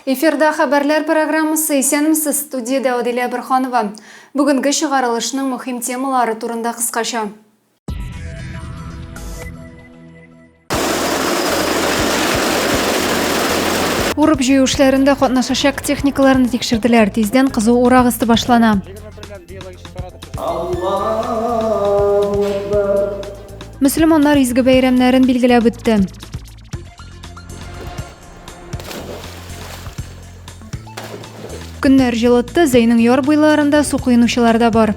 Эфирда хәбәрләр программасы исәнмесез студиядә Адилә Бирханова. Бүгенге чыгарылышның мөһим темалары турында кыскача. Урып җыю эшләрендә катнашачак техникаларны тикшерделәр. Тиздән кызу урак ысты башлана. Мөселманнар изге бәйрәмнәрен билгеләп үтте. Көннәр җылытты, Зәйнең яр буйларында су коенучылар да бар.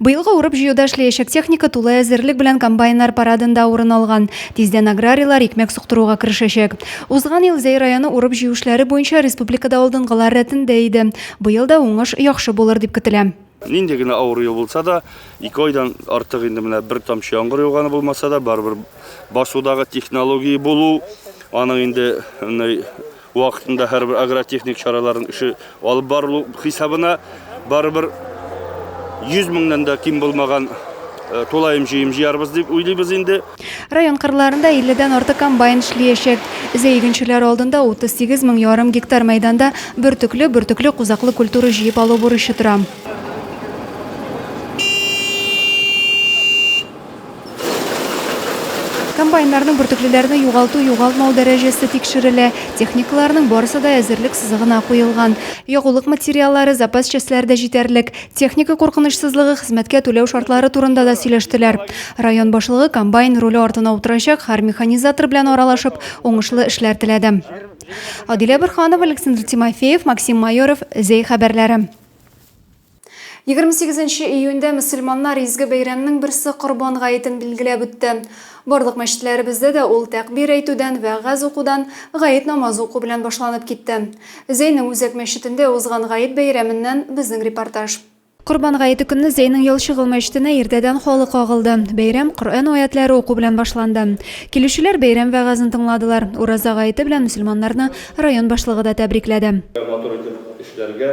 Быелгы урып-җыюда эшләячәк техника тулы әзерлек белән комбайннар парадында урын алган. Тиздән аграрийлар икмәк суктыруга керешәчәк. Узган ел Зәй районы урып-җыю эшләре буенча республикада алдынгылар рәтендә иде. Быел да уңыш яхшы булыр дип көтелә. Нинди генә авыр ел булса да, ике айдан артык инде менә бер тамчы яңгыр яуганы булмаса да, барыбер басудагы технология булу, аның инде Вакытында һәрбер агротехник чараларын эше алып барылу хисабына барыбер 100 меңнән дә ким булмаган тулаем җыем җыярбыз дип уйлыйбыз инде. Район кырларында 50 дән артык комбайн эшлиячәк. Өзә игенчеләре алдында 38 мең ярым гектар мәйданда бөртекле, бөртекле кузаклы культура җыеп алу бурычы тора. Комбайннарның бөртеклеләрне югалту-югалтмау дәрәҗәсе тикшерелә. Техникаларның барысы да әзерлек сызыгына куелган. Ягулык материаллары, запас частьләре дә җитәрлек. Техника куркынычсызлыгы, хезмәткә түләү шартлары турында да сөйләштеләр. Район башлыгы комбайн руле артына утырачак һәр механизатор белән аралашып, уңышлы эшләр теләде. Адилә Борханова, Александр Тимофеев, Максим Майоров, Зәй хәбәрләре. Егерме сигезенче июньдә мөселманнар изге бәйрәмнең берсе Корбан гаетен билгеләп үтте. Барлык мәчетләребездә дә ул тәкъбир әйтүдән, вәгазь укудан, гает намазы уку белән башланып китте. Зәйнең үзәк мәчетендә узган гает бәйрәменнән безнең репортаж. Корбан гаете көнне Зәйнең Ялчыгыл мәчетенә иртәдән халык агылды. Бәйрәм Коръән аятьләре уку белән башланды. Килүчеләр бәйрәм вәгазен тыңладылар. Ураза гаете белән мөселманнарны район башлыгы да тәбрикләде. Матур итеп эшләргә.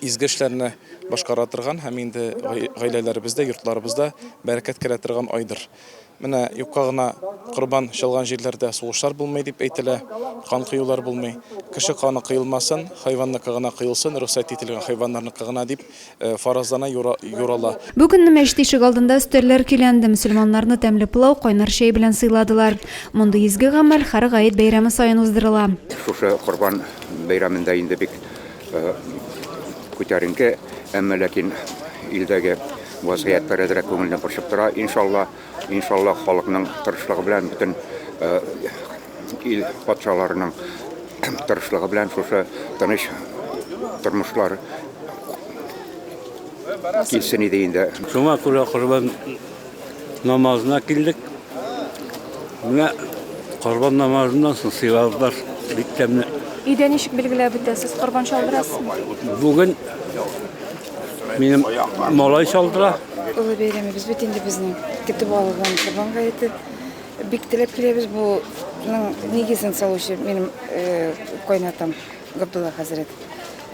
Изге эшләрне башкара торган һәм инде гаиләләребездә, йортларыбызда бәрәкәт керә торган айдыр. Менә юкка гына корбан чалган җирләрдә сугышлар булмый дип әйтелә, кан кыюлар булмый. Кеше каны кыелмасын, хайванныкы гына кыелсын, рөхсәт ителгән хайваннарныкы гына дип э, фаразлана, юрала. Бу көнне мәчет ишек алдында өстәлләр көйләнде, мөселманнарны тәмле пылау, кайнар чәй белән сыйладылар. Мондый изге гамәл һәр гает бәйрәме саен уздырыла. Шушы корбан бәйрәмендә инде бик Күтәренке, әмма ләкин илдәге вазгыять берәзрәк күңелне борчып тора. Иншалла, иншалла халыкның тырышлыгы белән, бөтен ил патшаларының тырышлыгы белән шушы тыныч тормышлар килсен иде инде. Шуңа күрә корбан Намазына килдек. Менә корбан намазыннан соң сыйладылар бик тәмле. Өйдә ничек билгеләп үтәсез? Корбан чалдырасызмы? Бүген минем малай чалдыра. Олы бәйрәмебез бит инде безнең. Көтеп алган Корбан гаете. Бик теләп киләбез. Буның нигезен салучы минем кайнатам. Габдулла хәзрәт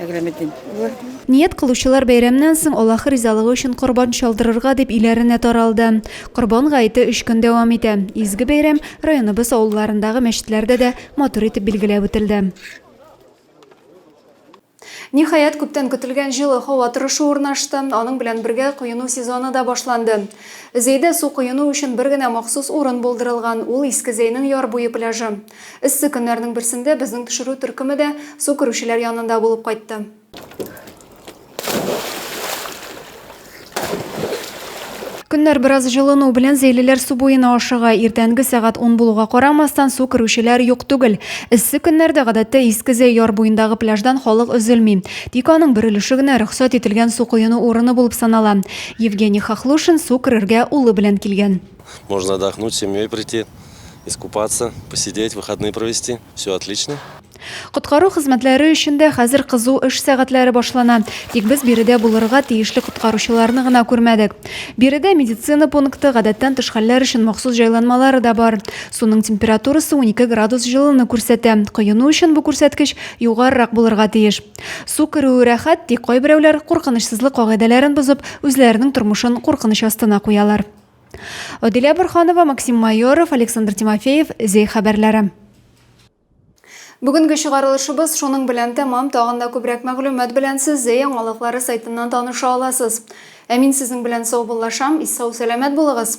Әграметдин улы. Ният кылучылар бәйрәмнән соң Аллаһ ризалыгы өчен корбан чалдырырга дип өйләренә таралды. Корбан гаете өч көн дәвам итә. Изге бәйрәм районыбыз авылларындагы мәчетләрдә дә матур итеп билгеләп үтелде. Ниһаять, күптән көтелгән җылы һава торышы урнашты, аның белән бергә коену сезоны да башланды. Зәйдә су коену өчен бер генә махсус урын булдырылган, ул Иске Зәйнең яр буе пляжы. Эссе көннәрнең берсендә безнең төшерү төркеме дә су керүчеләр янында булып кайтты. Көннәр бераз җылыну белән зәйлеләр су буена ашыга. Иртәнге сәгать 10 булуга карамастан, су керүчеләр юк түгел. Эссе көннәрдә гадәттә Иске Зәй яр буендагы пляждан халык өзелми. Тик аның бер өлеше генә рөхсәт ителгән су коену урыны булып санала. Евгений Хохлушин су керергә улы белән килгән. Можно отдохнуть, семьей прийти. Искупаться, посидеть, выходные провести. Все отлично. Коткару хезмәтләре өчен дә хәзер кызу эш сәгатьләре башлана. Тик без биредә булырга тиешле коткаручыларны гына күрмәдек. Биредә медицина пункты, гадәттән тыш хәлләр өчен махсус җайланмалары да бар. Суның температурасы 12 градус җылыны күрсәтә. Коену өчен бу күрсәткеч югарырак булырга тиеш. Су керүе рәхәт, тик кайберәүләр, куркынычсызлык кагыйдәләрен бозып, үзләренең тормышын куркыныч астына куялар. Адилә Борханова, Максим Майоров, Александр Тимофеев, Зей хәбәрләре. Бүгенге чыгарылышыбыз шуның белән тәмам, тагын да күбрәк мәгълүмат белән сез Зәй яңалыклары сайтыннан таныша аласыз. Ә мин сезнең белән саубуллашам, ис сау сәламәт булыгыз.